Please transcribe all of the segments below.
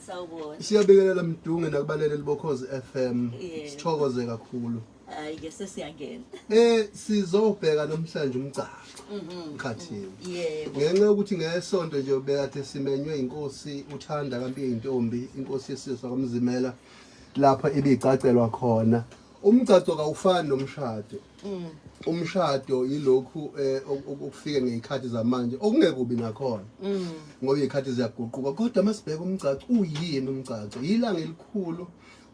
Sawubona. Siyabingelela Mdunge nakubalaleli boKhozi FM. Yebo. Sithokoze kakhulu. Hayi ke sesiyangena. Eh sizobheka namhlanje umgcagco. Ngikhathini. Yebo. Ngenxa yokuthi ngesonto nje ubekade simenywe inkosi uthanda kaMpiye intombi, inkosi yesizwe kwaMzimela lapha ibicacelwa khona. Umgcagco kawufani nomshado. Mm. Umshado yilokhu eh, okufike ngezikhathi zamanje okungekubi nakhona. Mm. Ngoba izikhathi ziyaguquka kodwa masibheka umgcagco uyini umgcagco? Yilanga elikhulu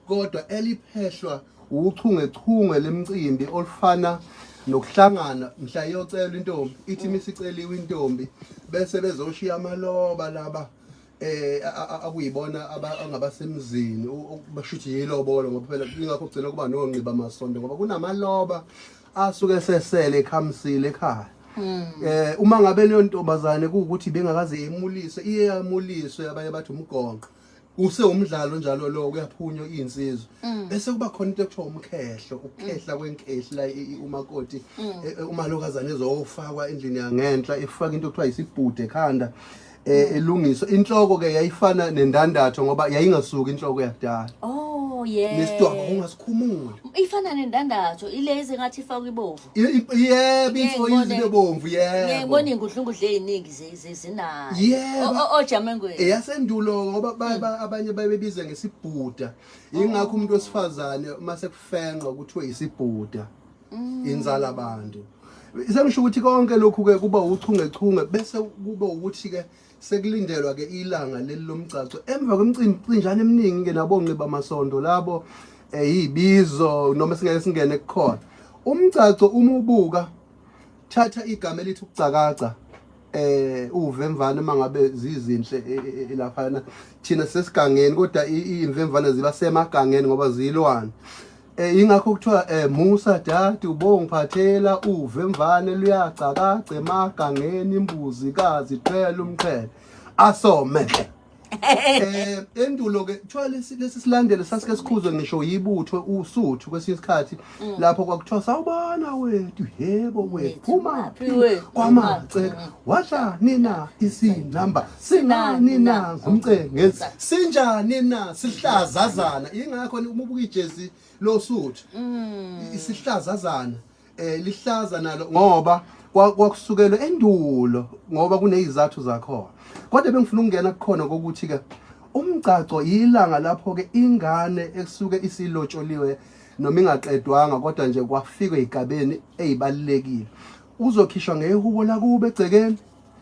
kodwa eliphehlwa uchungechunge lemcimbi olufana nokuhlangana mhla iyocela intombi ithi mm. misiceliwe intombi bese bezoshiya amaloba laba eh akuyibona abangabasemzini bashuthi yilobolo ngoba phela ingakho kugcina kuba nonqiba masonto ngoba kunamaloba asuke sesele ekhamisile ekhaya hmm. eh uma ngabe leyo ntombazane kuwukuthi bengakaze imulise iye yamuliswe abanye bathi umgonqo use umdlalo njalo lo kuyaphunywa insizwa mm. bese kuba khona into ekuthiwa umkhehlo ukukhehla mm. kwenkehla umakoti mm. e, e, umalokazane ezofakwa endlini yangenhla efaka into ekuthiwa isibhude ekhanda eh mm. ilungiswa inhloko ke yayifana nendandatho ngoba yayingasuki inhloko yakudala oh yeah nesidwaba ungasikhumula ifana nendandatho ilezi ngathi ifakwa ibovu yebo into izibe bomvu yebo ngiyibona ingudlungudle eziningi zezinayo yebo ojamengweni eyasendulo ngoba mm. abanye babebiza ngesibhuda ingakho umuntu oh. wesifazane mase kufenqwa kuthiwe isibhuda mm. inzala abantu sengisho ukuthi konke lokhu ke kuba uchungechunge bese kuba ukuthi ke sekulindelwa ke ilanga leli lomgcagco emva kwemcimbi cinjana eminingi ke nabonqi bamasondo labo eyibizo eh, noma singeke singene kukhona umgcagco uma ubuka thatha igama elithi ukucakaca eh uvemvane mangabe zizinhle e, e, e, laphana thina sesigangeni kodwa imvemvane ziba semagangeni ngoba zilwane Eh ingakho kuthiwa eh musa dadi ubongiphathela uve mvane luyagcakaca emagangeni imbuzi kazi phela umqhele asome eh endulo ke kuthiwa lesi lesi silandelo sasike sikhuzwe ngisho yibutho usuthu kwesinye isikhathi mm. lapho kwakuthiwa sawubona wethu yebo wethu phuma kwamace wadla nina isinamba sinani na umcebo ngenzi sinjani na sihlazazana ingakho uma ubuka ijezi losuthu mm. isihlazazana eh lihlaza nalo ngoba kwakusukelwe endulo ngoba kunezizathu zakho kodwa bengifuna ukungena kukhona kokuthi ke umgcagco yilanga lapho ke ingane ekusuke isilotsholiwe noma ingaqedwanga kodwa nje kwafikwe igabeni ezibalekile uzokhishwa ngehubo lakube egcekeni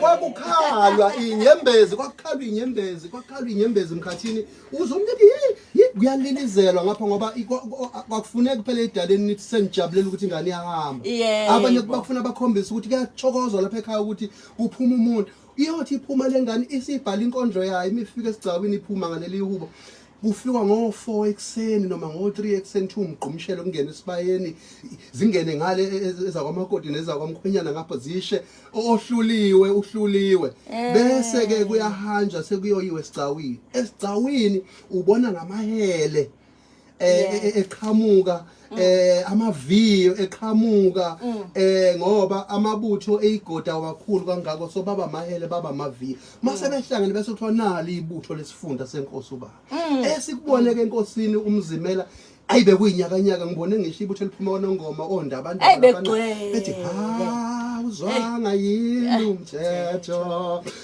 kwakukhalwa inyembezi kwakukhalwa inyembezi kwakukhalwa inyembezi emkhathini uzomnike kuyalilizelwa ngapha ngoba kwakufuneka kuphela edaleni nithi senijabulela ukuthi ingane iyahamba abanye bakufuna bakhombise ukuthi kuyathokozwa lapha ekhaya ukuthi kuphuma umuntu iyothi iphuma lengane isibhala inkondlo yayo imifika esigcawini iphuma ngaleli hubo kufikwa ngo-four ekuseni noma ngo-three ekuseni thiwa umgqumshelo kungena esibayeni zingene ngale e- e- ezakwamakoti nezakwamkhwenyana ngapha zishe ohluliwe uhluliwe eh. bese-ke kuyahanjwa sekuyoyiwa esigcawini esigcawini ubona ngamahele um eqhamuka yeah. e, e, Mm. eh amaviyo eqhamuka mm. eh ngoba amabutho eyigoda kakhulu kangako so baba mahele baba maviyo mase mm. behlangene bese kuthiwa nali ibutho lesifunda senkosi ubaba esikubone ke enkosini umzimela ayi bekuyinyakanyaka ngibone ngisho ibutho eliphuma konongoma ondaba abantu bethi ha uzwanga yini umthetho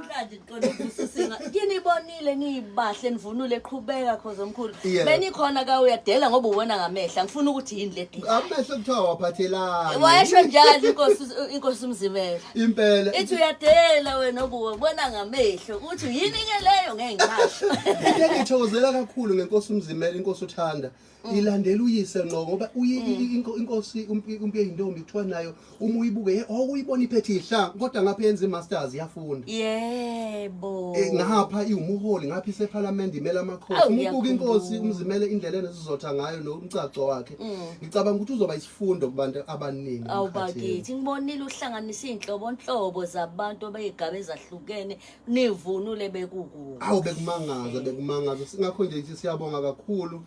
Namhlanje ngicela ukubusa singa. Kinibonile nibahle nivunule qhubeka khoze omkhulu. Yeah. Benikhona ka uyadela ngoba uwona ngamehla. Ngifuna ukuthi yini le deal. Amehlo kuthiwa waphathelani. Wayesho njalo inkosi inkosi umzimela. Impela. Ithi uyadela wena obuwe bona ngamehlo ukuthi yini ke leyo ngeke ngisho. Into engithokozela kakhulu ngenkosi umzimela inkosi uthanda Mm. ilandela uyise ngqo ngoba mm. inkosi umpi eyintombi kuthiwa nayo uma uyibuke oh, uyibona iphethe ihla kodwa ngapha yenza i-masters yafunda yebo eh, ngapha iwumuholi ngapha isephalamende imela amakhosi uma ubuka inkosi umzimele indlela enesizotha ngayo nomcaco wakhe mm. ngicabanga ukuthi uzoba isifundo kubantu abaningi awubakithi ngibonile uhlanganisa iy'nhlobonhlobo zabantu abey'gaba ezahlukene nivunule bekukubi awu bekumangaza bekumangaza singakho nje ngithi siyabonga kakhulu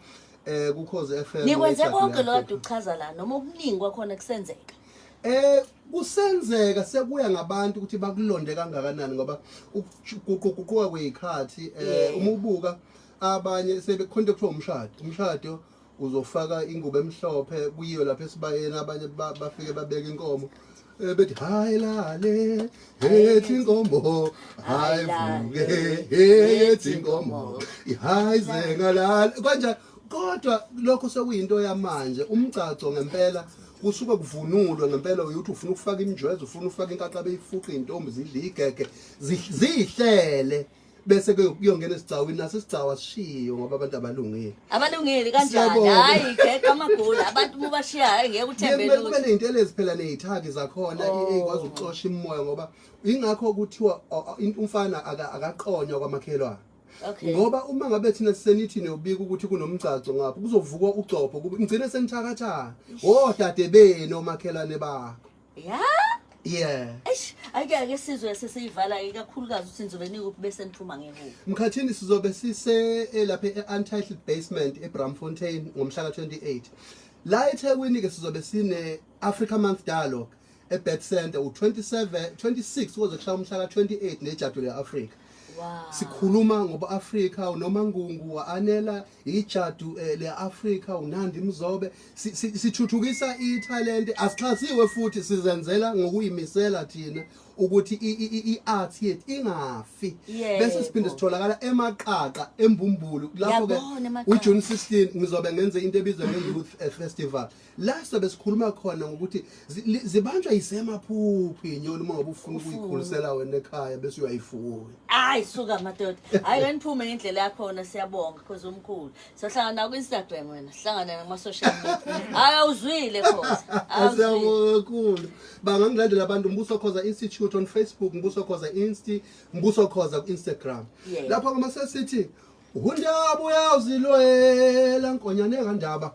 eh kukhoze FM nikwenze website konke lo yakho. kade uchaza la noma okuningi kwakhona kusenzeka Eh kusenzeka sekuya ngabantu ukuthi bakulonde kangakanani ngoba ukuguquguquka kwezikhathi eh Yeah. uma ubuka abanye sebekhonta kuthiwa umshado umshado uzofaka ingubo emhlophe kuyiwe lapha esibayeni abanye bafike babeke inkomo eh, bethi hayi lale hethi inkomo hayi vuke hethi inkomo hayi zengalale kanjani kodwa lokho sekuyinto yamanje umgcagco ngempela kusuke kuvunulwe ngempela uyothi ufuna ukufaka imijwezo ufuna ukufaka inkaqabe ifuqe intombi zidle igege zihlele bese ke kuyongena esigcawini naso isigcawa sishiyo ngoba abantu abalungile abalungile kanjani Siyabonga. hayi geqa amagula abantu uma ubashiya hayi ngeke uthembe kumele kube lutho ney'ntelezi phela ney'thaki zakhona i- Oh. ey'kwazi ukuxosha imimoya ngoba yingakho kuthiwa o- o- in- umfana aka- akaqonywa kwamakhelwane okay ngoba uma ngabe thina senithi niyobika ukuthi kunomgcagco ngapho kuzovukwa ugcobho kube- nigcine senithakathaka wodade benu omakhelwane bakho ya yeah eish ake ake sizwe sesiyivala ikakhulukazi ukuthi nizobe nikuphi bese niphuma ngekuphi mkhathini sizobe sise eh, lapha e-untitled basement ebramfontein ngomhla ka-28 la ethekwini-ke sizobe sine-africa month dialogue ebet center u-27 26 koze kushaya umhla ka-28 nejadu le-afrika Wow. sikhuluma ngoba-afrika unomangungu wa-anela ijadu eh, le-afrika unandi mzobe sithuthukisa si, si ithalente asixhasiwe futhi sizenzela ngokuyimisela thina ukuthi i-art yethu ingafi yeah, bese siphinde sitholakala emaqaqa embumbulu lapho-ke ujune 16 ngizobe ngenze into ebizwa nge-youth eh, festival la sobe sikhuluma khona ngokuthi zibanjwa yisemaphuphu inyoni uma ngabe ufuna ukuyikhulisela wena ekhaya bese uyayifuya hayi suka madoda hayi wena phume ngendlela yakhona siyabonga cause umkhulu sohlangana ku Instagram wena sihlangana nama social media hayi awuzwile cause asiyabonga kakhulu bangangilandela abantu mbuso khoza institute on Facebook mbuso khoza insti mbuso khoza ku Instagram lapho kuma sesithi undaba uyawuzilwela nkonyane kandaba